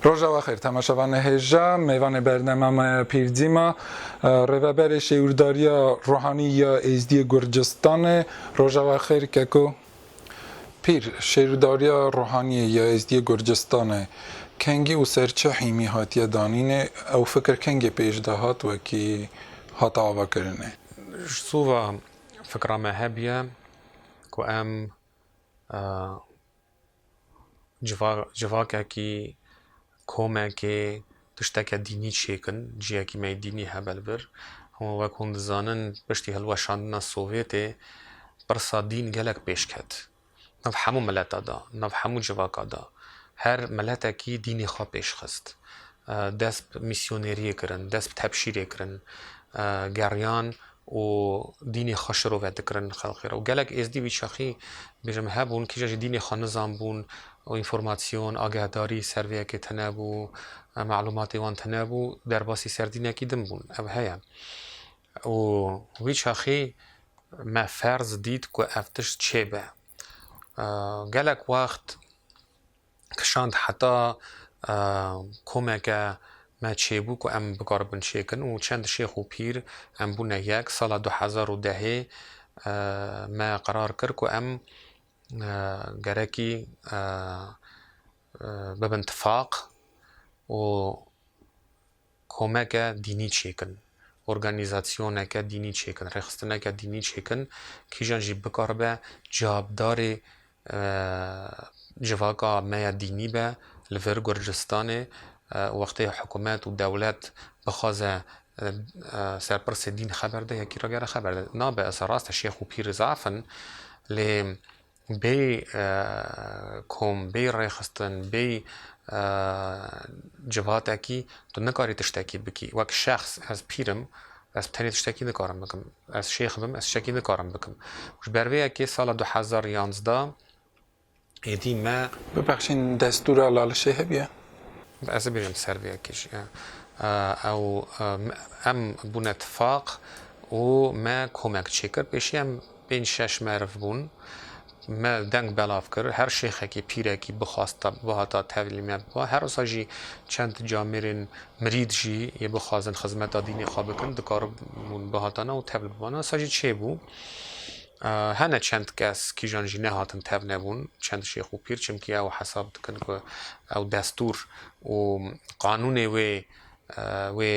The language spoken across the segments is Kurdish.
Rojava xêr temaşevan hêja mêvanê bernema me ya pîrdîma Rêveberê Şêwîrdariya Ruhanî ya Êzdiyê Gurcistanê Rojava xêr keko. Pîr, şêwidariya ruhaniyê ya Êzdiyê Gurcistanê, kengî û serçe hîmî hatiye danînê, ew fikir kengê pêş de hat wekî hat avakirinê. Ji sova fikra me hebiye ku em Civa civakekî, komekê, tişteke dînî çêkin, cihekî me yê dînî hebe li vir. Hûn wek hûn dizanin piştî hilweşandina Sovyetê pirsa dîn gelek pêş ket. Nav hemû mileta da, nav hemû civaka da. Her miletekî dînê xwe pêş xist. Dest bi mîsyoneriyê kirin, dest bi tebşîrê kirin. Geriyan û dînê xwe şirove dikirin xelqê re û gelek êzdî wî şexî bêjim hebûn kîjan jî dînê xwe nizanbûn û înformasyon, agehdarî ser vê yekê tinebû, malûmatê wan tinebû derbasî ser dînekî din bûn. Ev heye û wî şexî me ferz dît ku ev tişt çêbe. Gelek wext. kişand heta komeke me çêbû ku em bikaribin çêkin û çend şêx û pîr em bûne yek. Sala du hezar û dehê me qerar kir ku em gerekî bibin tifaq û komeke dînî çêkin, organîzasyoneke dînî çêkin, rêxistineke dînî çêkin, kîjan jî bikaribe cevabdarê civaka me ya dînî be li vir Gurcistanê û wextê hikûmet û dewlet bixwaze serpirsê dîn xeber de yekî ragere xeber de nabe. Rast e şêx û pîr zaf in lê Bê kom, bê rêxistin, bê civhatekî tu nikarî tiştekî bikî. Wek şexs ez pîr im, ez tenê tiştekî nikarim bikim. Ez şêx bim, ez tiştekî nikarim bikim. Ji ber vê yekê sala du hezar û yanzdeh êdî me. Bibexşîn destûra Lal Şêhê bûye. Ez ê bêjim ser vê yekê jî. Ew em bûne tifaq û me komek çêkir. Pêşî em. Pênc şeş meriv bûn. Me deng belav kir. Her şêxekî, pîrekî bixwast te bihata tevlî me biba. Her wisa jî çend camêrên mirîd jî yê bixwazin xizmeta dînê xwe bikin dikaribûn bihatane û tevl bibane. Wisa jî çêbû. Hene çend kes kîjan jî nehatin tevlebûn, çend şêx û pîr çimkî ew hesab dikin ku ew destûr û qanûnê wê wê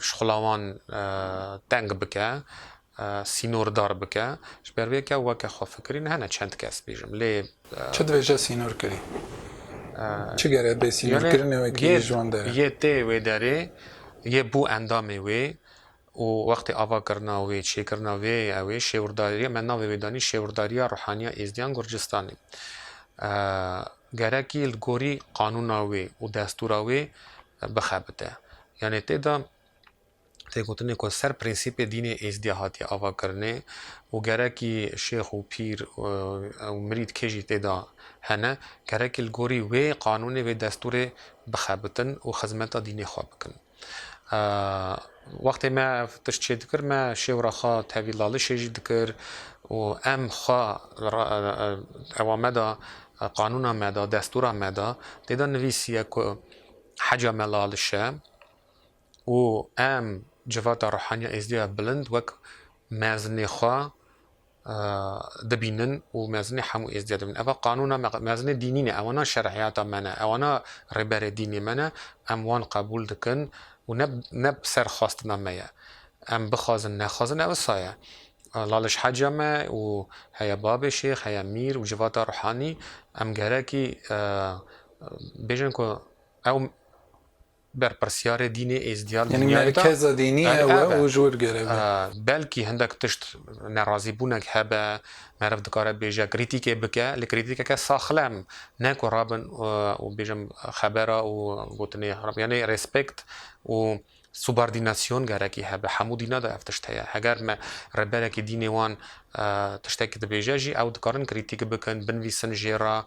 şixulawan teng bike. sînordar bike. Ji ber vê ke weke xwe fikirîn hene çend kes bêjim lê. Çi dibêje sînor kirî? Çi gere bê sînorkirinê wekî ji wan dere? Yê tê wê derê, yê bû endamê wê û wextê ava kirina wê, çêkirina wê ew ê şêwirdarîya me navê wê danî Şêwirdarîya Ruhaniya Êzdiyan Gurcistanê. Gerekî li gorî qanûna wê û destûra wê bixebite. Yanê tê de tê gotinê ku ser prensîpê dînê Êzidî hatiye avakirinê û gerekî şêx û pîr û mirîd kê jî tê de hene gerekî li gorî wê qanûnê wê destûrê bixebitin û xizmeta dînê xwe bikin. Wextê me ev tişt çê dikir me şêw re xwe tevî lalişê jî dikir û em xwe ewa me de qanûna me de destûra me de tê de nivîsîye ku heca me laliş e û em civata ruhaniya Êzidî ya bilind wek mezinê xwe dibînin û mezinê hemû Êzidî dibînin. Ev a qanûna me, mezinê dînî ne, ew ana şerîyata me ne, ew ana rêberê dînê me ne, em wan qebûl dikin û ne ne bi ser xwestina me ye. Em bixwazin nexwazin ew wisa ye. Laliş Heca me û heye Babê Şêx, heye Mîr û civata ruhanî em gerekî bêjin ku ew Berpirsyarê dînê Êzdîya li Yani dinyayê de merkeza dînî Ebe, ew e ebe. û ji wir gerek be. Belkî hindek tişt nerazîbûnek hebe, meriv dikare bêje krîtîkê bike, lê krîtîkeke saxlem, ne ku rabin û bêjin xebera û gotinê xerab. Yanî respekt û subardînasyon gerekî hebe. Hemû dîna de ev tişt heye. Heger me rêberekî dînê wan Tiştekî dibêje jî ew dikarin krîtîk bikin, binvîsin jê re,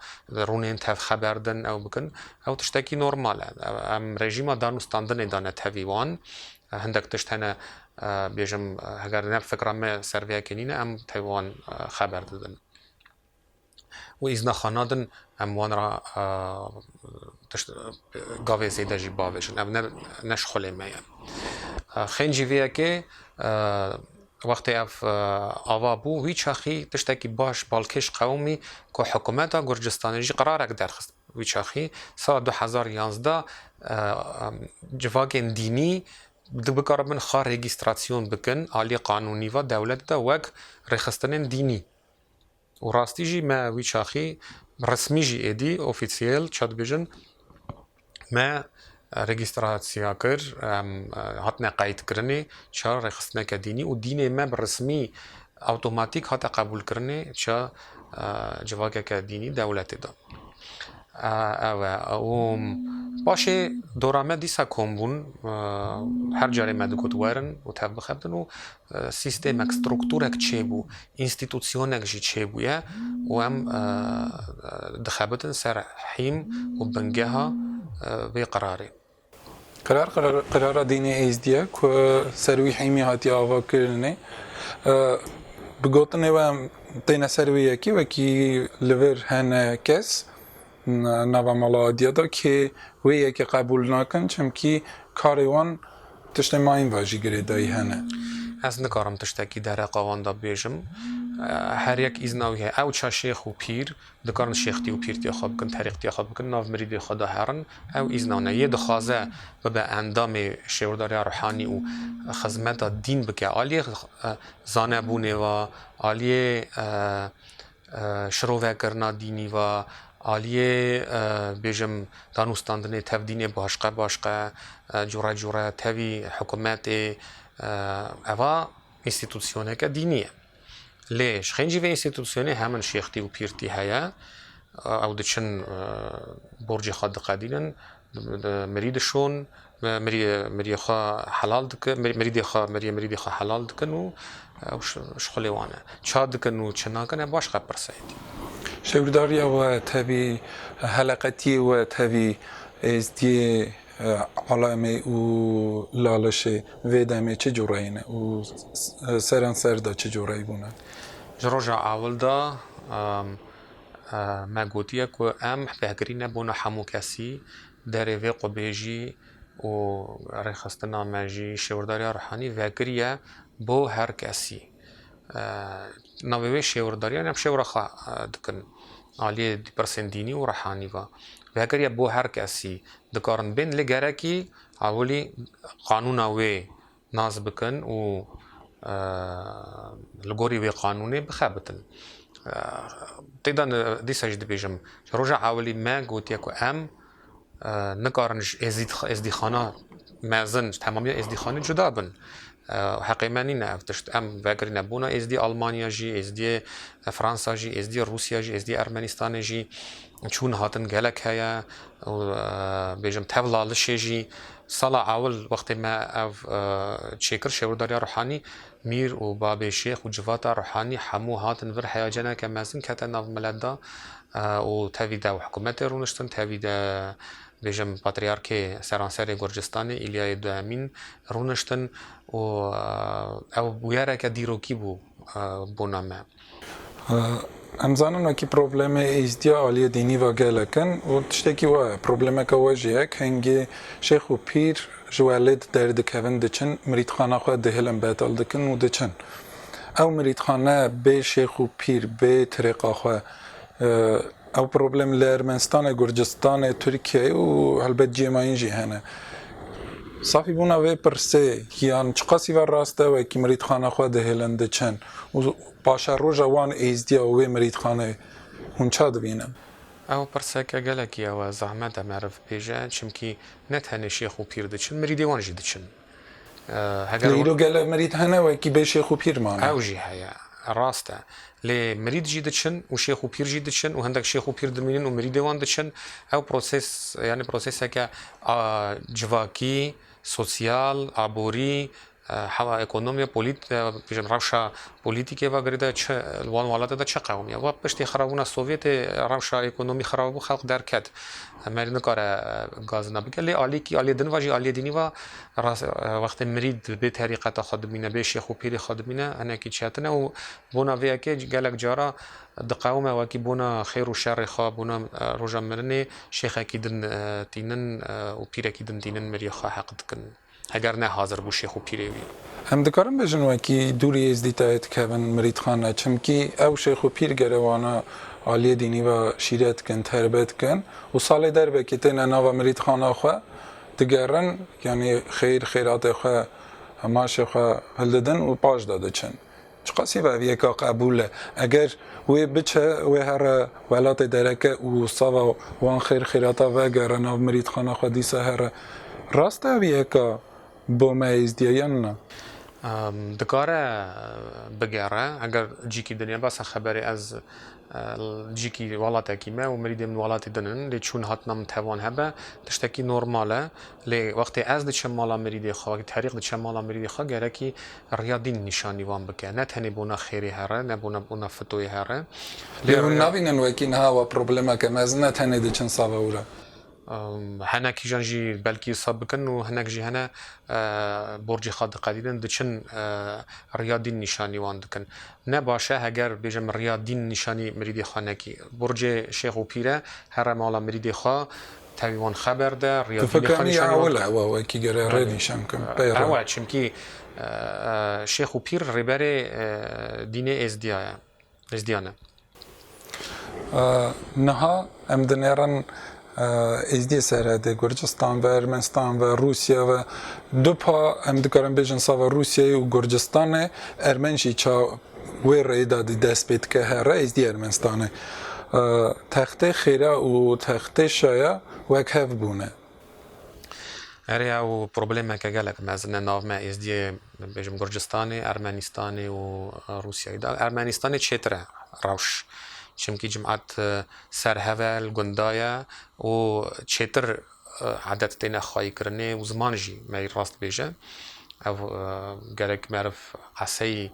rûnên tev xeber din ew bikin. Ew tiştekî normal e. Em rejîma danûstandinê dane tevî wan. Hindek tişt hene bêjim heger ne fikra me ser vê yekê nîne em tevî wan xeber didin. û îzna xwe nadin em wan re tişt gavê zêde jî bavêjin. Ev ne ne ji xulê me ye. Xên jî vê yekê wextê ev ava bû wî çaxî tiştekî baş balkêş qewimî ku hikûmeta Gurcistanê jî qerarek derxist wî çaxî sala du hezar û yazdeh civakên dînî bikaribin xwe rêgîstrasyon bikin aliyê qanûnî ve dewlet de wek rêxistinên dînî. Û rastî jî me wî çaxî resmî jî êdî, ofîsiyel ça dibêjin, me regîstrasiya kir, em hatine qeydkirinê, ça rêxistineke dînî û dînê me bi resmî awtomatîk hate qebûlkirinê, ça civakeke dînî dewletê da. Ew e. Û paşê dora me dîsa kom bûn, her carê me digot werin û tevbixebtin û Sîstemek, strûkturek çêbû, înstîtûsyonek jî çêbûye û em dixebitin ser hîm û bingeha vê qirarê. Qirar, qirara dînê Êzdî ye ku ser wî hîmî hatiye avakirinê. Bi gotinê we em têne ser wê yekê wekî li vir hene kes, nava mala Adiya de kê wê yekê qebûl nakin çimkî karê wan tiştê mayîn ve jî girêdayî hene. Ez nikarim tiştekî dereqa wan de bibêjim. Her yek îzna wî heye. Ew çi şêx û pîr dikarin şêxtî û pîrtiya xwe bikin, terîqtiya xwe bikin, nav mirîdê xwe de herin. Ew îzna wan heye. Yê dixwaze bibe endamê şêwirdariya ruhanî û xizmeta dîn bike aliyê zanebûnê ve, aliyê Şirovekirina dînî va aliyê bêjim danûstandinê tev dînê başqe başqe cure cure tevî hikûmetê eva înstîtûsyoneke dînî ye. Lê ji xêncî vê înstîtûsyonê hemin şêxtî û pîrtî heye ew diçin borcê xwe diqedînin, Mirîdi şon mirîyê xwe helal dikin, mirîdê xwe mirîyê mirîdê xwe helal dikin û ew şixulê wan e. Ça dikin û çi nakin ev baş qe pirse ye. Şewrdariya we tevî, heleqetiyê we tevî êzdiyê alemê û lalişê vê demê çi cureyê ne û seranser de çi cureyî bûne? Ji roja ewil de. Me gotiye ku em fêhgirî ne bona hemû kesî, derê vê xwebêjî û rêxistina me jî Şêwirdariya Ruhanî vegirî ye bo her kesî. Navê wê şêwirdariyan em şêwira xwe dikin aliyê pirsên dînî û ruhanî ve. Vegirî ye bo her kesî. Dikarin bên lê gerekî ewilî qanûna wê nas bikin û li gorî wê qanûnê bixebitin. Tê de dîsa jî dibêjim, ji roja ewilî me gotiye ku em nikarin ji êzdîxana mezin, ji temamiya êzdîxanê cuda bin. Heqê me nîne ev tişt. Em vegirîne bona êzdî Almanya jî, êzdîyê Fransa jî, êzdîyê Rûsya jî, êzdîyê Ermenîstanê jî. Çûn hatin gelek heye û bêjim tevla lişê jî. Sala ewil wextê me ev çêkir şêwirdariya Ruhanî, Mîr û babê Şêx û civata Ruhanî hemû hatin vir heya ceneke mezin kete nav milet de û tevî de hikûmetê rûniştin tevî de bêjim patriyarkê seranserê Gurcistanê Îlyayê Duhemîn rûniştin û ew bûyereke dîrokî bû. bûna me. Em zanin wekî problemê êzdiya aliyê dînî va gelek in û tiştekî wa ye. Problemeke we jî ye kengî şêx û pîr ji we lê di der dikevin diçin mirîdxana xwe dihilin betal dikin û diçin. Ew mirîdxane bê şêx û pîr bê tirêqa xwe. Ew problem li Ermenistanê, Gurcistanê, Tirkiyeyê û helbet cihê me yên jî hene. Safîbûna vê pirsê yan çiqasî ve rast e, wekî mirîdxana xwe dihêlin diçin û paşa roja wan êzdiya û wê mirîdxanê hûn ça dibînin? Ew pirseke gelekî ew e, zehmet e meriv bibêje, çimkî ne tenê şêx û pîr diçin, mirîdê wan jî diçin. Lê îro gelek mirîd hene wekî bê şêx û pîr mane. Ew jî heye, rast e. Lê mirîd jî diçin û şêx û pîr jî diçin û hindik şêx û pîr dimînin û mirîdê wan diçin. Ew prosês yanî prosêseke a civakî, sosyal, aborî, hewa ekonomî, polît bêjim rewşa polîtîkê ve girê de çi li wan welate de çi qewimî ye. Wek piştî xirabûna sovyetê rewşa ekonomî xirab bû xelk derket. Emel nikare gazina bike lê alîkî aliyê din va jî aliyê dînî va rast wextê mirîd bi bê terîqeta xwe dimîne bê şêx û pîrê xwe dimîne hinekî çetine û bona vê yekê gelek cara diqewime wekî bona xêr û şerê xwe bona roja mirinê şêxekî din tînin û pîrekî din tînin miriyê xwe heq dikin. Heger ne hazir bû şêx û pîrê wî. Em dikarin bêjin wekî dûrî Êzdîtayê dikevin mirîdxane, çimkî ew şêx û pîr gere wana aliyê dînî ve şîret dikin, terbe dikin û salê derbekê têne nava mirîdxana xwe digerin, yanî xeyr xeyratê xwe, hemaşê xwe hildidin û paşda diçin. Çiqasî bi ev yeka qebûl e. Eger wê biçe wê here welatê dereke û sava wan xêr xêrata vegere nav mirîtxana xwe dîsa here. Rast e ev yeka bo me êzdî ye yan na? Dikare bigere. Eger cîkî dinya basa xeberê ez Dijîkî welatekî me û mirîdên min welatî din in. Lê çûn hatina min tevan hebe tiştekî normal e. Lê wextê ez diçim mala mirîdê xwe, wextê Terîq diçe mala mirîdê xwe gerekî riya dîn nîşanî wan bike. Ne tenê bona xêrê here, ne bona bona fitoyê here. Lê hûn nabînin wekî niha wa problemeke mezin e tenê diçin save û re. Hene kîjan jî belkî isab bikin û hinek jî hene borcê xwe diqedînin, diçin riya dîn nîşanî wan dikin. Ne baş e heger bêje min riya dîn nîşanî mirîdê xwe nekî. Borcê şêx û pîr e here mala mirîdê xwe tevî wan xeber de, riya dînê xwe nîşanî wan bike. Tu fekirî ew e wekî gere rê nîşan bikin pey re? Ew e, çimkî şêx û pîr rêberê dînê êzdiya ye. Êzdiyane. Niha em dinêrin Êzdiyê Seredê, Gurcistan ve, Ermenistan ve, Rûsya ve. Du pa em dikarin bêjin sava Rûsyayê û Gurcistanê, ermen jî ça wê rêyê de dî dest pê dike here Êzdiyê Ermenistanê. Textê xêra û textê şaya wek hev bûne. Erê ew problemeke gelek mezin e nav me êzdiyê bêjim Gurcistanê, Ermenistanê û Rûsyayê de. Ermenistanê çêtir e rewş. Çimkî cimat ser hev e, li gunda ye û çêtir edet têne xwayîkirinê û ziman jî me yê rast bêje. Ev gerek meriv eseyî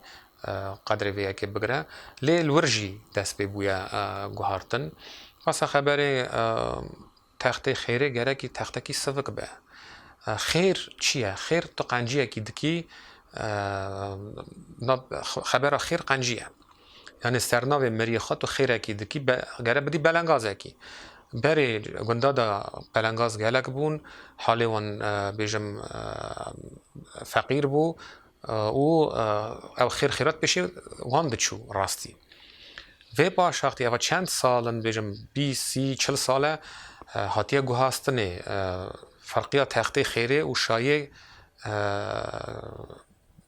qedrê vê yekê bigire. Lê li wir jî dest pê bûye guhartin. Basa xeberê Textê xêrê gerekî textekî sivik be. Xêr çi ye? Xêr tu qenciyekî dikî xebera xêr qencî ye. Yanî sernavê mirîyê xwe tu xêrekî dikî gere bidî belengazekî. Berê gunda de pelengaz gelek bûn, halê wan bêjim feqîr bû, Û ev xêr xêrat pêşê wan diçû rastî. Vê paşaxtî eva çend sal in dibêjim bîst, sî, çil sal e hatiye guhastinê ferqiya textê xêrê û şayê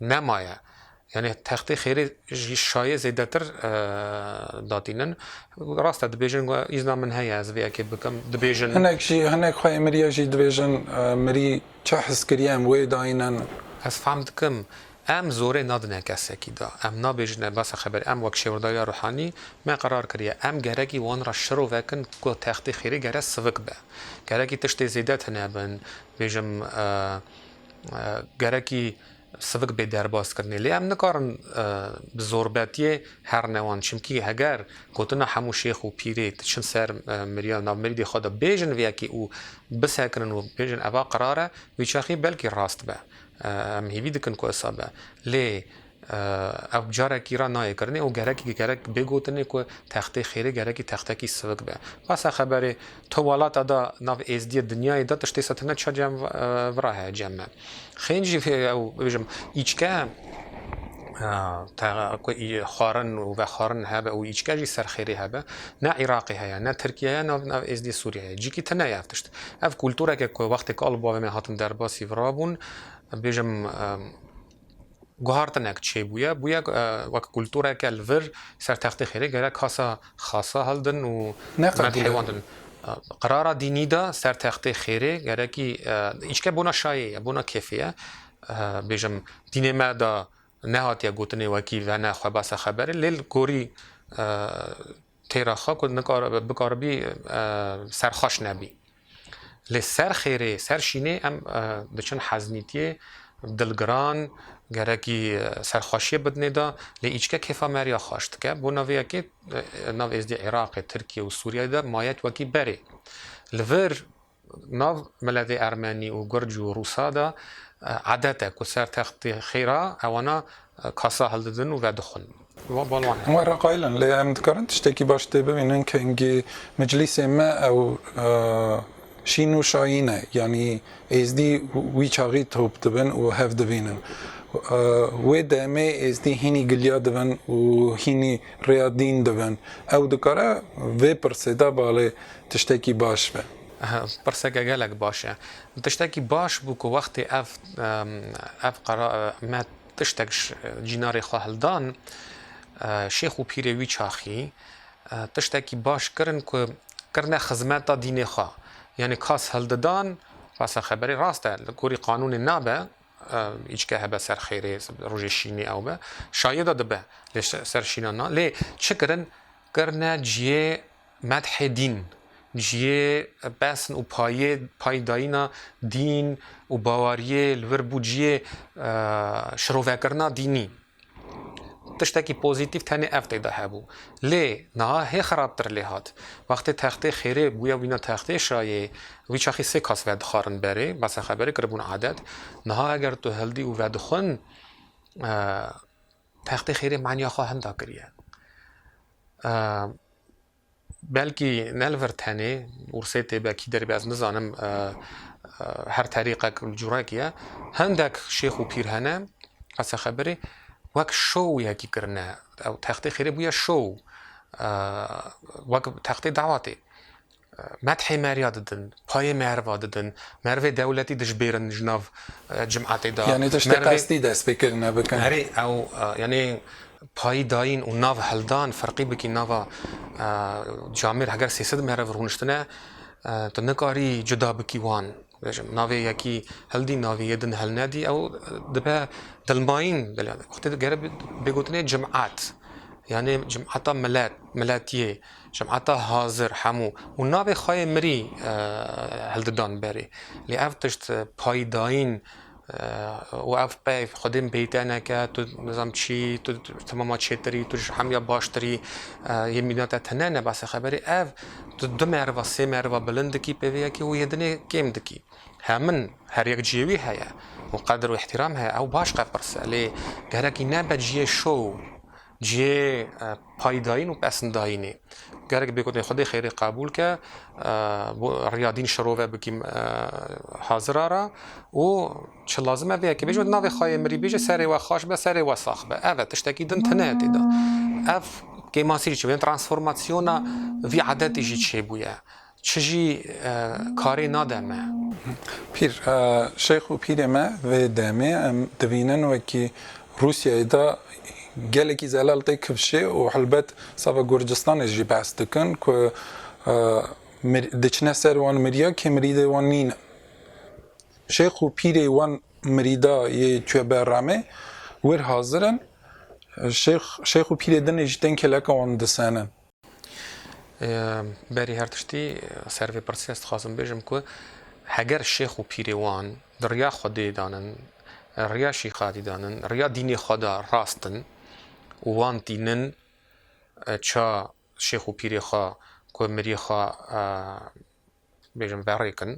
nemaye. Yanî textê xêrê jî şayê zêdetir datînin. Rast e dibêjin îzna min heye ez vê yekê bikim dibêjin. Hinek jî hinek xwe ê mirî ye jî dibêjin mirî. Çi hizkirî em wê dayînin? Ez fam dikim em zorê nadine kesekî de. Em nabêjine basa xeberê. Em wek Şêwirdawiya Ruhanî me qerar kiriye. Em gerekî wan re şiro vekin ku textê xêrê gere sivik be. Gerekî tiştê zêde tune bin. Bêjim gerekî. Sivik bê derbas kirinê. Lê em nikarin bi zorbetiyê her ne wan. Çimkî heger gotina hemû şêx û pîrê diçin ser mirya nav mirîdê xwe de bêjin vê yekê û bisekirin û bêjin eva qirar e, wî çaxê belkî rast be. Em hêvî dikin ku wisa be. Lê ew carekî re nayê kirinê û gerekî gerek bê gotinê ku textê xêrê gerekî textekî sivik be. Basa xeberê Tu welata da nav êzdiyê dinyayê da tiştê se tine çiya cem vira heye cem me. Xêyn jî ew bêjim îçke ku xwarin û vexwarin hebe û îçke jî serxêrê hebe ne Îraqê heye ne Tirkiyê heye nav nav êzdiyê Sûriyê heye. Cîkî tine ye ev tişt. Ev kultureke ku wextê ku al û bavê me hatin derbasî virabûn bêjim guhartinek çêbûye, bûye wek kultureke li vir ser textê xêrê gerek hasa xasa hildin û medhewandin. Qirara dînî de ser textê xêrê gerekî îçke bona şayê ye, bona kêfê ye. Bêjim dînê me de nehatiye gotinê wekî vene xwebase xeberê lê li gorî Têra xwe ku bikaribî ser xweş nebî. Lê ser xêrê, ser şînê em diçin heznîtiyê, dilgiran, gerekî serxweşiyê bidinê da, lê îçke kêfa me riya xweş dike. Bo navê yekê, nav êzdî Iraqê, Tirkiyê û Sûriyeyê de mayek wekî berê. Li vir Nav miletê ermenî û gurc û rûsa de adet e ku ser textê xêra ewana kasa hildidin û vedixwin. Wê re qayil in, lê em dikarin tiştekî baş tê bibînin kengî miclîsê me ew şîn û şayîn e, yanî êzdî wî çaxî top dibin û hev dibînin. Wê demê êzdî hînî giliya dibin û hînî rêya dîn dibin. Ew dikare vê pirsê de bale Tiştekî baş be. Pirseke gelek baş e. Tiştekî baş bû ku wextê ev ev qera me tiştek ji cînarê xwe hildan, şêx û pîrê wî çaxî tiştekî baş kirin ku kirine xizmeta dînê xwe. Yanî kas hildidan, rasa xeberê rast e, li gorî qanûnê nabe îçke hebe ser xêrê, rojê şînê ew be, şayida dibe lê ser şîna na. Lê çi kirin? Kirine cihê Medhê dîn, ji yê besn û payê pay dayîna dîn û baweriyê li vir bû ji yê şirovekirina dînî. Tiştekî pozîtîf tenê ev tê de hebû. Lê niha hê xerabtir lê hat. Wextê textê xêrê bûye wîna textê şayê wî çaxî sê kas vedixarin berê, basa xeberê kiribûn adet. Niha eger tu hildî û vedixwin. Textê xêrê maniya xwe hinda kiriye. Belkî ne li vir tenê Ursê tê be kî derê be ez nizanim her terîqek curek ye. Hindek şêx û pîr hene qese xebirê wek şow yekî kirine. Ew textê xêrê bûye şow wek textê dawa tê. Methê Merya didin, payê Merva didin, Mervê dewletî dijbêrin ji nav cimetê de. Yanî tiştê qestî dest pê kirine bikin. Erê ew yanî payî dayîn û nav hildan ferqî bikî nava camêr heger sê sed meriv rûniştine tu nikarî cuda bikî wan. Bêjim navê yekî hildî navê yê din hilnedî ew dibe dilmayîn wextê gere bê gotinê cimet yanî cimeta milet miletiyê. Cemata hazir hemû û navê xwe yê mirî hildidan berê. Lê ev tişt paydayîn û ev peyv xwedê min peyî te neke, tu nizam çî, tu temama çêtir î, tu ji hemûya baştir î, yê mîna te tune ne behsa xeberê. Ev tu du meriva, sê meriva bilind dikî pê vê yekê û yê dinê kêm dikî. Hemin her yek ciyê wî heye û qedir û îhtîram heye, ew baş qepirse. Lê gerekî nebe ciyê şow Cihê paydayîn û pesndayînê gerek bê gotin Xwedê xêrê qebûl ke bo riya dîn şirove bikîm hazir a ra û çi lazim e vê yekê bêje û di navê xwe yê mirî bêje serê we xweş be serê we sax be. Ev e tiştekî din tune ye tê de. Ev kêmasî jî çêbû ye. Transformasyona vî edetî jî çêbûye. Çi jî karê nade me. Pîr, Şeyx û pîrê me vê demê em dibînin wekî Rûsyayê de gelekî zelal tê kivşê û helbet sava Gurcistanê jî behs dikin ku diçine ser wan mirîya kê mirîdê wan nîn in. Şeyx û pîrê wan mirîda yê Tue Berramê wir hazir in. Şeyx û pîrê din jî tên kêleka wan disenin. Berî her tiştî ser vê pirsê ez dixwazim bêjim ku heger şêx û pîrê wan di riya Xwedê danin, riya şîxadî danin, riya dînê xwe de rast in û wan tînin ça şêx û pîrê xwe ku mirî xwe bêjim verê kin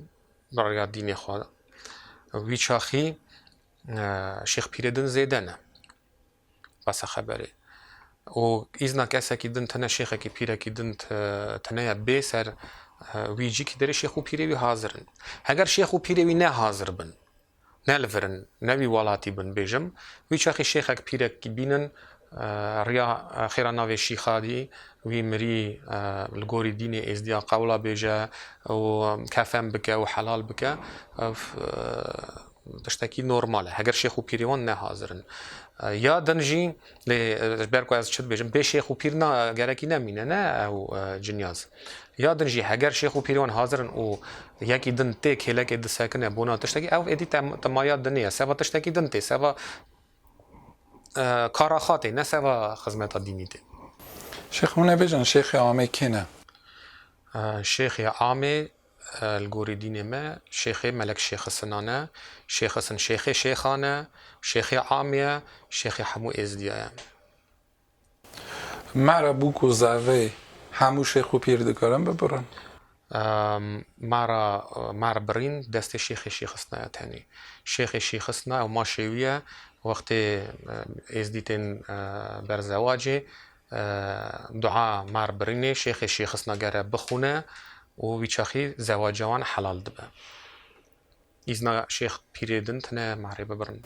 bi riya dînê xwe de wî çaxî şêx pîrê din zêde ne. besa xeberê. Û îzna kesekî din tene şêxekî pîrekî din tene ye bê ser wî cî kî derê şêx û pîrê wî hazir in. Heger şêx û pîrê wî ne hazir bin, ne li vir in, ne wî welatî bin bêjim, wî çaxê şêxek pîrek kî bînin riya xêra navê şîxa dî wî mirî li gorî dînê êzdiya qewla bêje û kefen bike û helal bike. Tiştekî normal e. Heger şêx û pîrê wan ne hazir in. Ya din jî lê ji ber ku ez çi dibêjim bê şêx û pîr na gerekî nemîne ne ew cinyaz. Ya din jî heger şêx û pîrê wan hazir in û yekî din tê kêlekê disekine bona tiştekî ew êdî tema ya dinê ye. Seba tiştekî din tê. Seba kara xwe tê ne seba xizmeta dînî tê. Şêx hûn ê bêjin şêxê amê kê ne? Şêxê amê Li gorî dînê me Şêxê Melek Şêxi Sinan e. Şêxi Sin Şêxê Şêxan e, Şêxê Am ye, Şêxê hemû Êzdiya ye. Ma re bûk û zerreyê hemû Şêx û Pîr dikarin bibirin. Ma re ma re birîn destê Şêxê Şêxi Sina ye tenê. Şêxê Şêxi Sina ew ma şêwî ye wextê Êzdî tên ber zewacê. Dua mar birînê şêxê şêxisna gere bixwune û wî çaxî zewaca wan helal dibe. Îzna şêx pîrê din tine marê bibirin.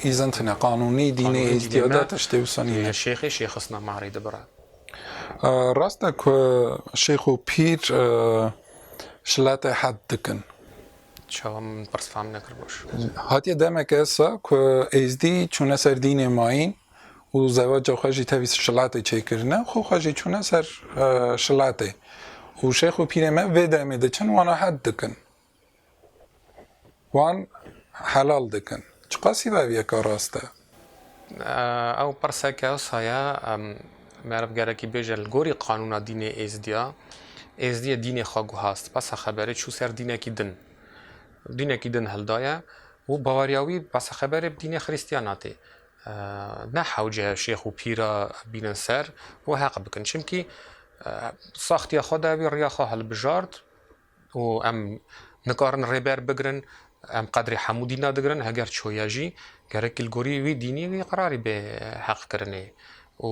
Îzin tine qanûnî dînê Êzidîya de tiştê wisa nîne. Tije şêxê şêxisna marê dibire. Rast e ku şêx û pîr şilatê hed dikin. Çawa min pirs fam nekir baş. Hatiye demeke sa ku Êzidî çûne ser dînê mayîn û zewaca xwe jî tevî şilatê çêkirine xwe xwe jî çûne ser şilatê û şêx û pîrê me vê demê diçin wana hed dikin wan helal dikin çiqasî bi eviyeka rast e. Ew pirseke wisa ye meriv gerekî bêje li gorî qanûna dînê êzidiya êzidiyê dînê xwe guhast besa xeberê çû ser dînekî din dînekî din hildaye û baweriya wî besa xeberê bi dînê xirîstiyana tê Ne hewce şêx û pîr re bînin ser û heq bikin. Çimkî saxtiya xwe de wî riya xwe hilbijart û em nikarin rêber bigirin, em qedrê hemû dîna digirin heger çoye jî gerekî li gorî wî dînî wî qerarî bê heqkirinê û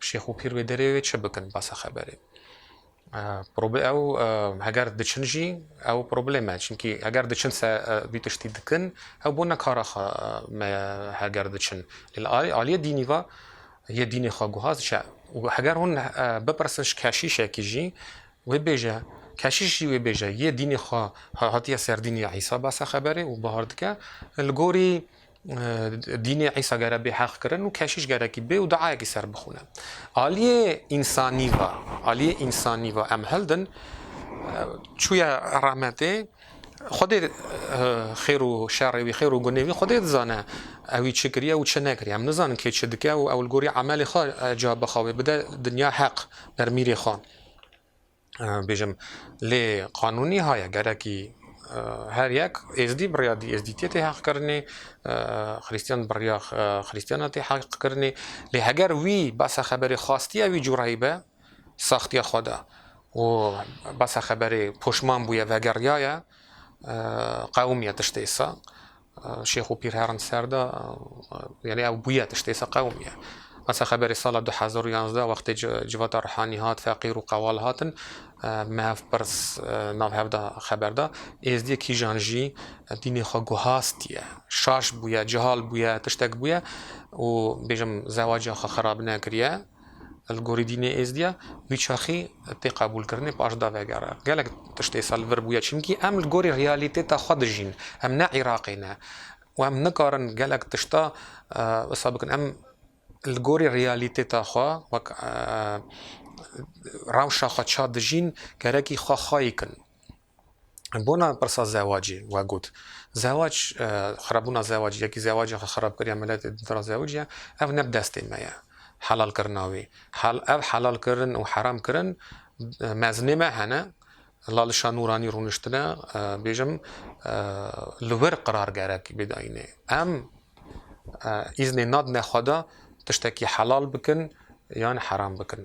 şêx û pîr wê derê wê çi bikin besa xeberê. Ew heger diçin jî ew probleme çimkî heger diçin se vî tiştî dikin ew bona kara xwe me heger diçin lê li aliyê dînî ve yê dînê xwe guha diçe û heger hûn bipirsin ji keşîşekî jî wê bêje keşîş jî wê bêje yê dînê xwe hatiye ser dînê Îsa base xeberê û bahar dike li gorî Dînê Îsa gere bê heq kirin û keşiş gerekî bê û duayekî ser bixwine. Aliyê însanî va, aliyê însanî va em hildin çûye rahmetê Xwedê xêr û şerê wî, xêr û gunê wî Xwedê dizane. Ewî çi kiriye û çi nekiriye. Em nizanin kê çi dike û ew li gorî emelê xwe cevab bi xwe wê bide dinya heq, ber mîrê xwe. bêjim lê qanûnî haya gerekî her yek êzdî bi rêya dî êzdîtiyê tê heqkirinê xrîstiyan bi rêya xrîstiyana tê heqkirinê lê heger wî besa xeberê xastiya wî cureyî be saxtiya xwe da û besa xeberê poşman bûye vegeriyaye qewimiye tiştê îsa Şêx û pîr herin ser de yanî ew bûye tiştê se qewimiye. Esa xeberê sala du hezar û yazdeh wextê civata Rihanî hat feqîr û qewal hatin mev pirs nav hev de xeber da êzdiyê kîjan jî dînê xwe guhastiye şaş bûye cihal bûye tiştek bûye û bêjim zewaca xwe xerab nekiriye. Li gorî dînê Êzdî ya wî çaxî tê qebûlkirinê paş da vegera. Gelek tişt ê sal vir bûye çimkî em li gorî realîtêta xwe dijîn. Em ne Îraqê ne û em nikarin gelek tişta wisa bikin. Em li gorî realîtêta xwe wek rewşa xwe ça dijîn gerekî xwe xayî kin. Bona pirsa zewacê we got, zewac xirabûna zewacê yekî zewacên xwe xirabkiriya miletê di dra zewicî ye, ev ne bi destê me ye helalkirina wî. Ev helalkirin û heramkirin mezinê me hene. Lalişa Nûranî rûniştine bêjim li wir qirar gerek bê di ayînê. Em. Îznê nadine xweda tiştekî helal bikin yan heram bikin.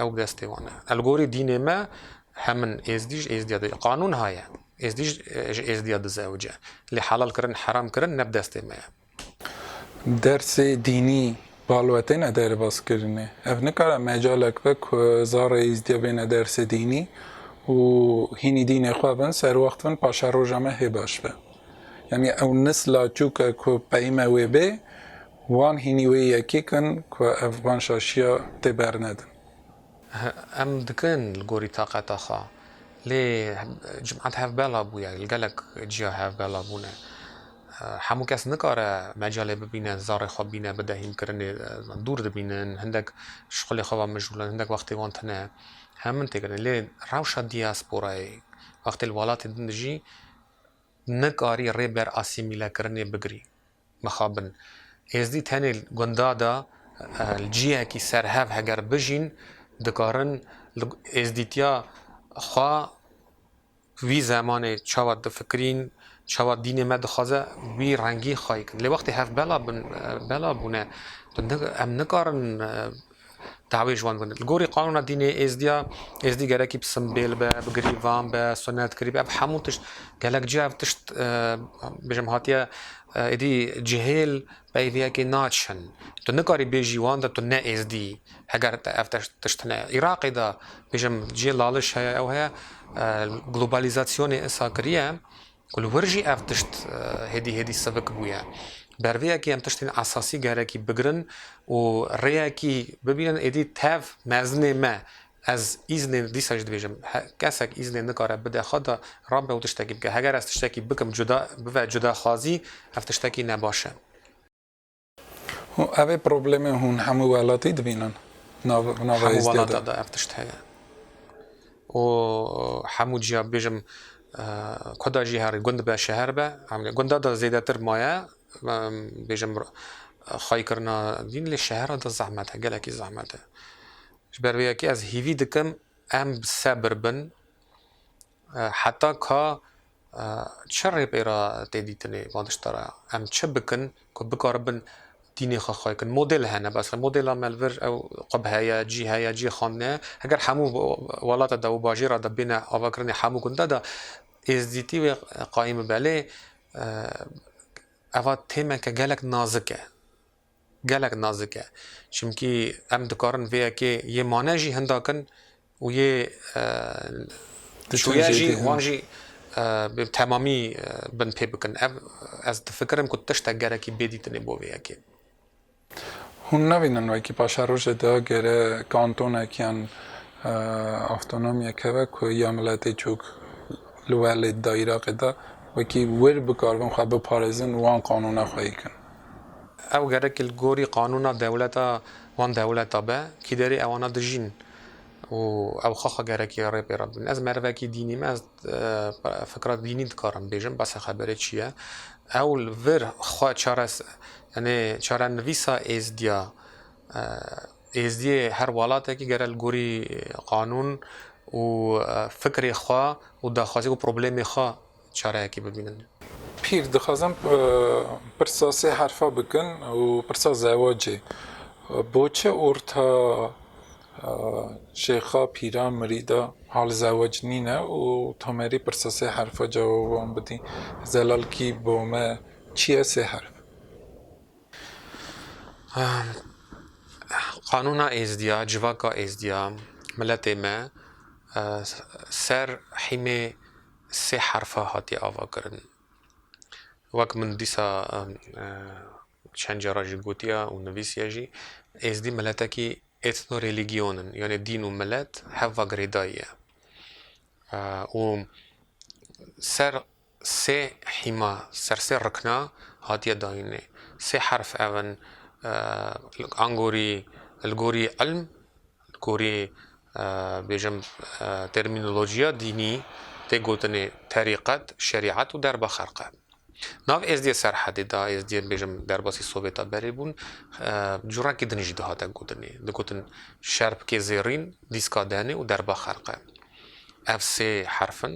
Ew bi destê wan e. Elgorî dînê me hemin êzdî ji êzdîya diz qanûn haye. Êzdî ji êzdîya diz ewc e. Lê helal kirin heram kirin ne bi destê me ye. Dersê dînî balwe têne derbas kirinê. Ev nikare mecalek be ku zarê êzdîya bêne dersê dînî û hînî dînê xwe bin, serwext bin, paşeroja me hê baş be. Yanî ew nisla çûk e ku peyme wê bê, wan hînî wê yekîk in ku ev van şaşiya tê bernedin. Em dikin li gorî taqeta xwe. Lê cimat hevbela bûye, li gelek ciya hevbela bûne. Hemû kes nikare mecalê bibîne zarê xwe bîne bide hînkirinê. Dûr dibînin, hindek ji xulê xwe ve mijûl in, hindek wextê wan tune. Em min têkirine. Lê rewşa diasporayê, wextê li welatê din dijî, Nikarî rê ber asîmîlekirinê bigirî. Mixabin. Êzdî tenê li gunda de li cihekî serhev heger bijîn, dikarin li êzdîtiya xwe wî zemanê çawa difikirîn, çawa dînê me dixwaze wî rengî xwe yê kirin. Lê wextê hev bela bela bûne, tu em nikarin Dawê ji wan gundan. Li gorî qanûna dînê Êzdiya, Êzdî gerekî bi simbêl be, bi girîvan be, sunet kirî be, ev hemû tişt gelek cih ev tişt bêjim hatiye êdî cihêl peyviyekê naçin. Tu nikarî bêjî wan de tu ne Êzdî yî heger te ev tişt hene. Iraqê de bêjim cihê laliş heye ew heye globalizasyonê êsa kiriye Ku li wir jî ev tişt hêdî hêdî sivik bûye. Ber vê yekê em tiştên esasî gerekî bigirin û rêyekî bibînin êdî tev mezinê me. Ez îznê dîsa jî dibêjim kesek îznê nikare bide xwe da rabe û tiştekî bike. Heger ez tiştekî bikim cuda bibe cudaxwazî ev tiştekî ne baş e. Ev ê problemê hûn hemû welatî dibînin. Hemû welata de ev tişt heye. Û hemû ciya bibêjim kuda jî herî gund be şeher be gunda de zêdetir maye bêjim xwayî kirina dîn lê şehera de zehmet e gelekî zehmet e. Ji ber vê yekê ez hîvî dikim em bi sebir bin Heta ka çi rêpêra tê dîtinê van tişta re? Em çi bikin ku bikaribin dînê xwe xwe kin? Model hene bes. Modela me li vir ew qub heye, cî heye, cî xandine ye. Heger hemû welata de û bajêra de bêne avakirinê hemû gunde de êzdîtî wê qayîm bibe. Lê eva têmeke gelek nazik e. Gelek nazik e. Çimkî em dikarin vê yekê yê mane jî hinda kin û yê çûye jî wan jî bi temamî bin pê bikin. Ev ez difikirim ku tiştek gerekî bêdîtinê bo vê yekê. Hûn nabînin wekî paşerojê de gere kantonek yan avtonomyek hebe ku ya miletê cûk li welêt de Îraqê de wekî wir bikaribin xwe biparêzin û wan qanûna xweyî kin. Ew gerek li gorî qanûna dewleta wan dewleta be, kîderê ewana dijîn û ew xaxa gerekî ya rê pê re bin. Ez merivekî dînî me, ez fikra dînî dikarim bêjim, base xeberê çi ye. Ew li vir xwe çare yanê çarenivîsa êzdiya êzdiyê her welatekî gere li gorî qanûn û fikrê xwe û daxwazî û problemê xwe çareyekî bibînin. Pîr, dixwazin pirsa sê herfa bikin û pirsa zewacê, Bo çi orta şêxa, pîra, mirîda hal zewac nîne û Tomerî pirsa sê herfa cewab wan bidî, Zelal kî bo me çi ye sê herf? Qanûna Êzidiya, civaka Êzidiya, miletê me ser hîmê Sê herfa hatiye avakirin. Wek min dîsa çend cara jî gotiya û nivîsiya jî, Êzdî miletekî ethnorelîgîyon in, yanê dîn û milet hev va girêdayî ye. Û ser sê hîma, ser sê rikna hatiye dayînê. Sê herf ev in, Angorî, li gorî ilm, Di gorî bêjim termînolojiya dînî tê gotinê terîqet, şerîet û derba xelqe. Nav êzdiyê Serhedê de êzdiyên bêjim derbasî Sovêta berê bûn cureyekî din jî dihate gotinê. Digotin şerpkê zêrîn, dîska denê û derba xelqe. Ev sê herf in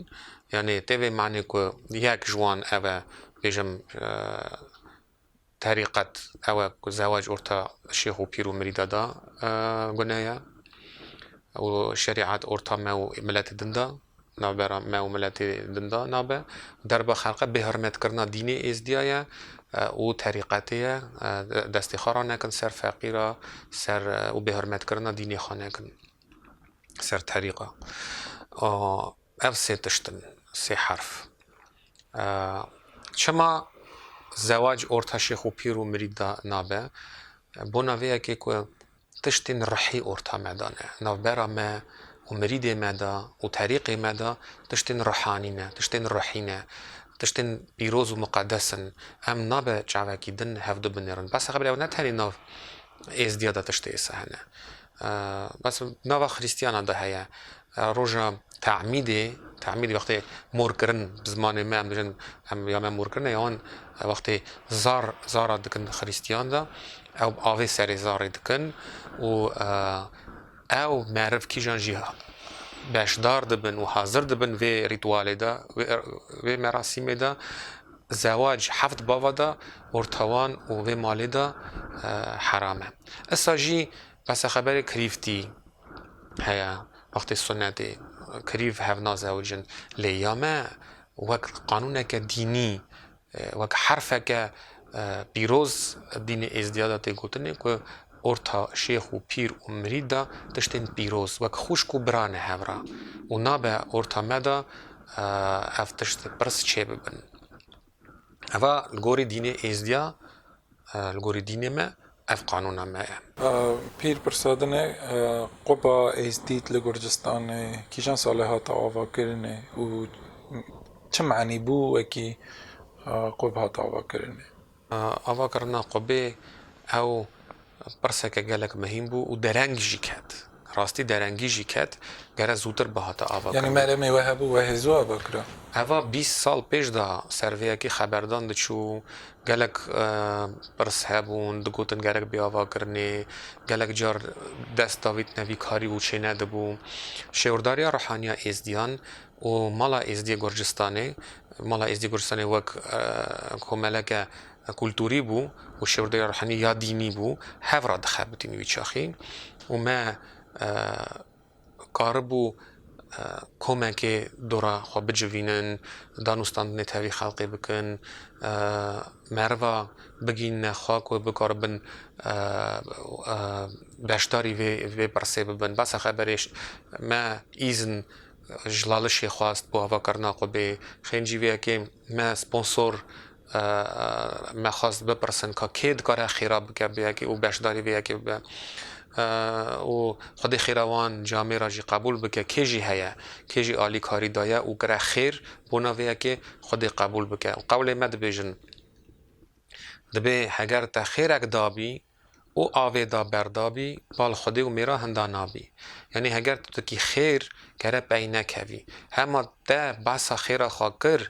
yanê tê vê manê ku yek ji wan ev e bêjim Terîqet, ew e ku zewac orta şêx û pîr û mirîda de gune ye û şerîet orta me û miletê din de, navbera me û miletê din de nabe. Derba xelqê bêhurmetkirina dînê Êzdiya ye û terîqetê ye. Destê xwe ranekin ser feqîra, ser û bêhurmetkirina dînê xwe nekin ser terîqa. Ev sê tişt in, sê herf. Çima zewac orta şêx û pîr û mirîd de nabe? Bona vê ye kê ku tiştên ruhî orta me de ne. Navbera me û mirîdê me de û terîqê me de tiştên ruhanî ne, tiştên ruhî ne, tiştên pîroz û muqedes in. Em nabe çavekî din hev dubinêrin. Bes e xebilê ew ne tenê nav êzdîya de tiştê êse hene. Bes nava xrîstiyanan de heye. Roja te'mîdê, te'mîd wextê morkirin bi zimanê me em dijin em ya me morkirin e yan wextê zar zara dikin xrîstiyan de ew bi avê serê zarê dikin û ew meriv kîjan jî beşdar dibin û hazir dibin vê rîtwalê de vê merasîmê de Zewac heft bava de ortawan û vê malê de heram e. Issa jî besa xeberê kirîvtî heye, wextê sunetê kirîv hev nazewicin. Lê ya me wek qanûneke dînî, wek herfeke pîroz dînê Êzdiya de tê gotinê ku Orta şêx û pîr û mirîd de tiştên pîroz wek xwişk û bira ne hev re û nabe orta me de ev tişt pirs çê bibin. Eva li gorî dînê êzdiya li gorî dînê me ev qanûna me ye. Pîr pirsadine quba êzdît li Gurcistanê kîjan salê hate avakirinê û çi manî bû wekî qub hate avakirinê. Ava kirina Qubê ew pirseke gelek mehîm bû û dereng jî ket. Rastî derengî jî ket, gere zûtir bihata ava kirina. Yanî meremê we hebû wehê zû ava kira? Eva bîst sal pêş de servêyekî xeberdan diçû, gelek pirs hebûn, digotin gerek bê ava kirinê, gelek car dest davîtine vî karî û çênedibû. Şêwirdarîya Ruhaniya Êzdiyan û Mala Êzdî Gurcistanê, Mala Êzdî Gurcistanê wek komeleke kulturî bû û şêwirde ya ruhanî ya dînî bû, hev re dixebitîn wî çaxî û me karibû komekê dora xwe bicivînin, danûstandinê tevî xelkê bikin, meriva bigihînine xwe ku bikaribin beşdarî vê pirsê bibin. Behsa xeberê me îzn Jlalişê xwest ku avakarina xwe bê xêncîvêyekê me sponsor me xwest bipirsin ka kê dikare xêra bike bi yekê û beşdarî vê yekê bibe û xwedê xêra wan ji Amêra jî qebûl bike kê jî heye kê jî alîkarî daye û kire xêr bona vê yekê xwedê qebûl bike û qewlê me dibêjin dibê heger te xêrek dabî Û avê da berdabî, bal xwedê û mêra hinda nabî. Yanî heger tu tikî xêr kere pey nekevî. Hema te behsa xêra xwe kir,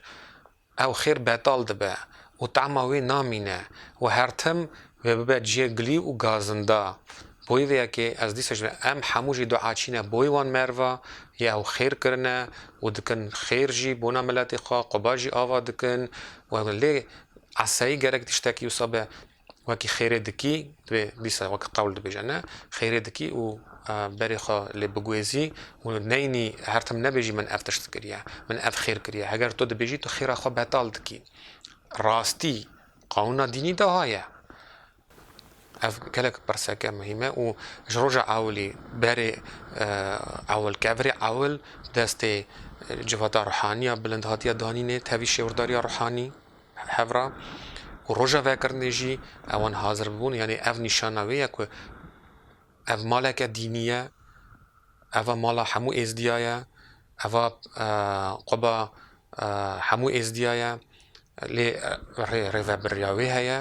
ew xêr betal dibe û tema wê namîne û her tim vê bibe ciyê gilî û gazinda. Bo wê yekê ez dîsa jî vêya em hemû jî dua çîne bo wê wan merva yê ew xêr kirine û dikin xêr jî bona miletê xwe, quba jî ava dikin û lê eseyî gerek tiştekî wisa be. Wekî xêrê dikî, divê dîsa wek qewl dibêje ne, xêrê dikî û berê xwe lê biguêzî û neynî her tim nebêjî min ev tişt kiriye, min ev xêr kiriye. Heger tu dibêjî tu xêra xwe betal dikî. Rastî qanûna dînî de ha ye. Ev gelek pirseke muhîm e û ji roja ewilî berê ewil, kevirê ewil destê civata ruhaniya bilind hatiye danînê, tevî şêwirdariya ruhanî. Hevra û roja vekirinê jî ewan hazir bibûn yanî ev nîşana wê ye ku ev maleke dînî ye, eva mala hemû êzdiya ye, eva quba hemû êzdiya ye lê rê rêvebiriya wê heye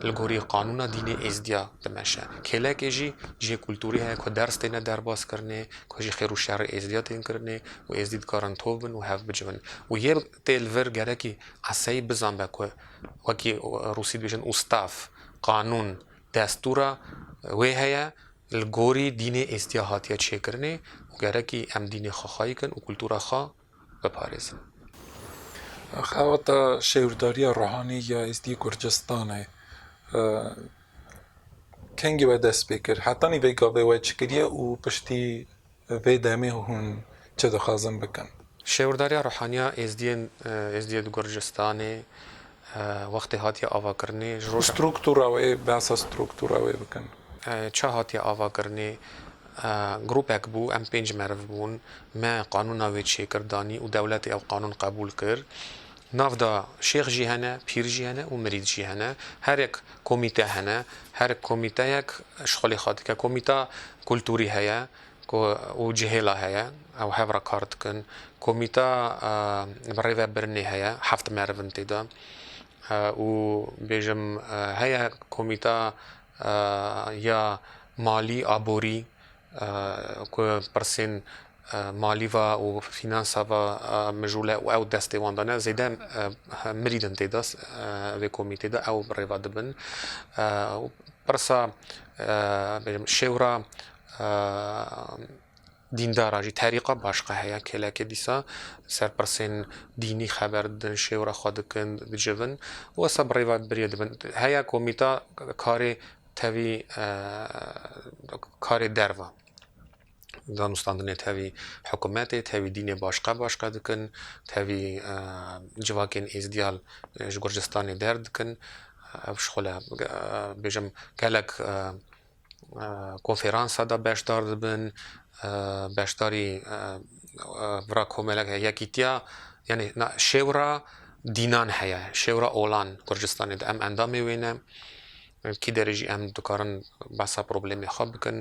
li gorî qanûna dînê êzdiya dimeşe. Kêlekê jî cihê kultûrî heye ku ders têne derbas kirinê, ku jî xêr û şerê êzdiya tên kirinê û êzdî dikarin tov bin û hev bicivin û yê Tê li vir gerekî qeseyî bizanbe ku wekî Rûsî dibêjin ustav, qanûn, destûra wê heye li gorî dînê êstiya hatiye çêkirinê û gerekî em dînê xwe xwayî kin û kultûra xwe biparêzin. Xebata şêwirdarîya ruhanî ya êstî Kurdistanê kengî we dest pê kir? Hetanî vê gavê we çi kiriye û piştî Vê demê hûn çi dixwazin bikin? Şêwirdariya Ruhaniya Êzdiyên Êzdiye di Gurcistanê wextê hatiye avakirinê ji roja. Strûktûra wê, behsa strûktûra wê bikin. Çi hatiye avakirinê? Grûpek bû, em pênc meriv bûn, me qanûna wê çêkir danî û dewletê ew qanûn qebûl kir. Navda şêx jî hene, pîr jî hene û mirîd jî hene. Herek komîte hene. Her komîteyek ji xwe lê xwe dike. Komîta kulturî heye ku û cihêla heye. Ew hev re kar dikin. Komîta bi rêvebirinê heye. Heft meriv in tê de. Û bêjim heye komîta ya malî, aborî Ku pirsên malî ve û fînansa ve mijûle û ew destê wan dane zêde mirîd in têde vê komîtê de ew rêva dibin. Pirsa bêjim şêwra dîndara jî terîqa başqa heye kêlekê dîsa ser pirsên dînî xeber didin şêwra xwe dikin dicivin û wisa bi rêva birî dibin. Heya komîta karê Tevî karê derve danûstandinê tevî hikûmetê, tevî dînê başka başka dikin, tevî civakên êzdiyal ji Gurcistanê derdikin. Ev ji xwe le bêjim gelek konfêransa de beşdar dibin, beşdarî vira komelek heye yekîtiya yanî na şêwira dînan heye, şêwira olan Gurcistanê de em endamê wê ne. Li kî derê jî em dikarin behsa problemê xwe bikin.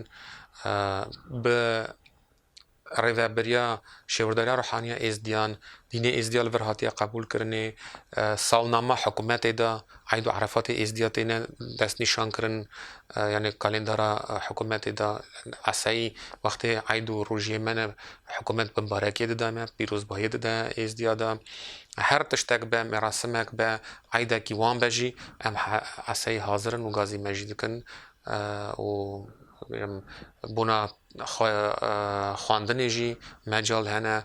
Bi rêveberiya Şêwirdariya Ruhaniya Êzdiyan, dînê Êzdiya li vir hatiye qebûlkirinê. Salnama hikûmetê de Eîd û Erefatê Êzdiya têne destnîşankirin. Yanê kalendara hikûmetê de esayî wextê Eîd û rojiyê me ne Hikûmet bi mbarekê dide me, pîrozbahiyê dide Êzdiya de. Her tiştek be, merasimek be, eydekî wan be jî em eseyî hazir in û gazî me jî dikin û bêjim bona xwe xwendinê jî mecal hene.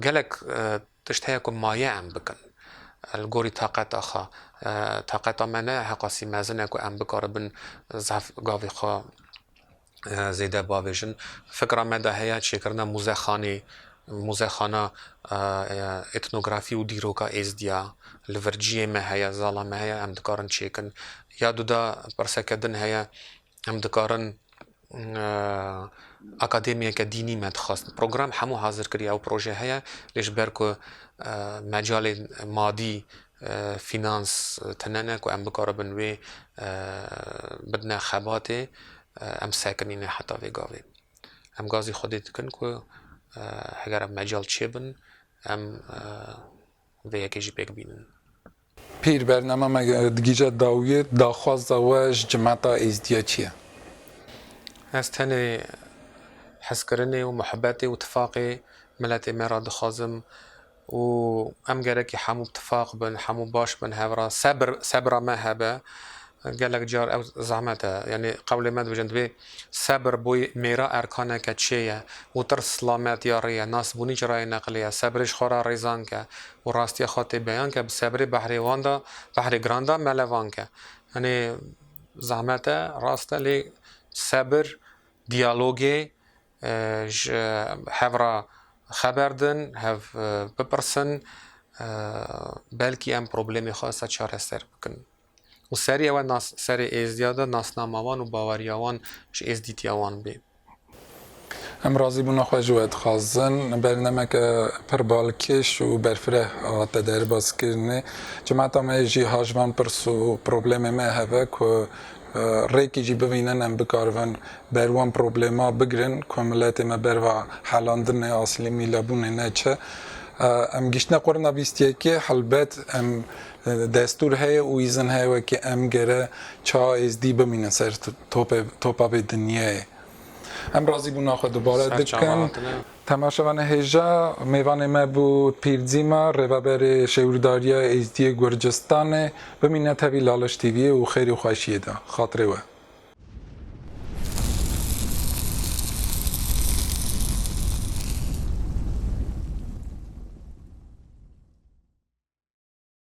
Gelek tişt heye ku maye em bikin li gorî taqeta xwe. Taqeta me ne heqasî mezin e ku em bikaribin zehf gavê xwe. zêde bavêjin. Fikra me de heye çêkirina muzexanê, muzexana etnografî û dîroka Êzdiya li vir ciyê me heye, zala me heye, em dikarin çêkin. Ya du de pirseke din heye, em dikarin akademiyeke dînî me dixwest. Program hemû hazir kiriye, ew proje heye lê ji ber ku mecalê madî Fînans tune ne ku em bikaribin wê bidine xebatê, em sekinîne heta vê gavê. Em gazî Xwedê dikin ku heger ev mecal çêbin, em vê yekê jî pêk bînin. Pîr, bername me digihîje dawiyê, daxwaza we ji cemeta Êzidiya çi ye? Ez tenê hezkirinê û muhebetê û tifaqê miletê me re dixwazim. Û em gerekî hemû bi tifaq bin, hemû baş bin hev re. Sebir, sebira me hebe. Gelek car ew zehmet e. Yanî qewlê me dibêjin, divê sebir bo mêra erkaneke çê ye û tirs silamet ya rê ye, nasbûnî ji rayê neqlê ye. Sebirê ji xwe re rêzank e û rastiya xwe tê beyan ke bi sebirê behrê wan de, behrê giran de melevank e. Yanî zehmet e, rast e lê sebir, diyalogê ji hev re xeber din, hev bipirsin, belkî em problemê xwe wisa çareser bikin. Û serî ew e nas serê êzdiya de nasnama wan û baweriya wan ji êzdîtiya wan bê. Em razîbûna xwe ji we dixwazin. Bernameke pir balkêş û berfireh hate derbas kirinê. Cemata me yê jî haj van pirs û problemê me hev e ku Rêkî jî bivînin em bikaribin ber wan problema bigirin ku miletê me ber va helandinê, asîlî mîlebûnê ne çi. Em gihîştine qurna bîst yekê helbet em destûr heye û îzin heye wekî em gere ça êzdî bimînin ser topê topa vê dinyayê. Em razîbûna xwe dubare dikin. Temaşevanê hêja mêvanê me bû Pîr Dîma, Rêveberê Şêwîrdariya Êzdiyê Gurcistanê. Bimîne tevî Laliş TV'yê û xêrê xweşiyê de. Xatirê we.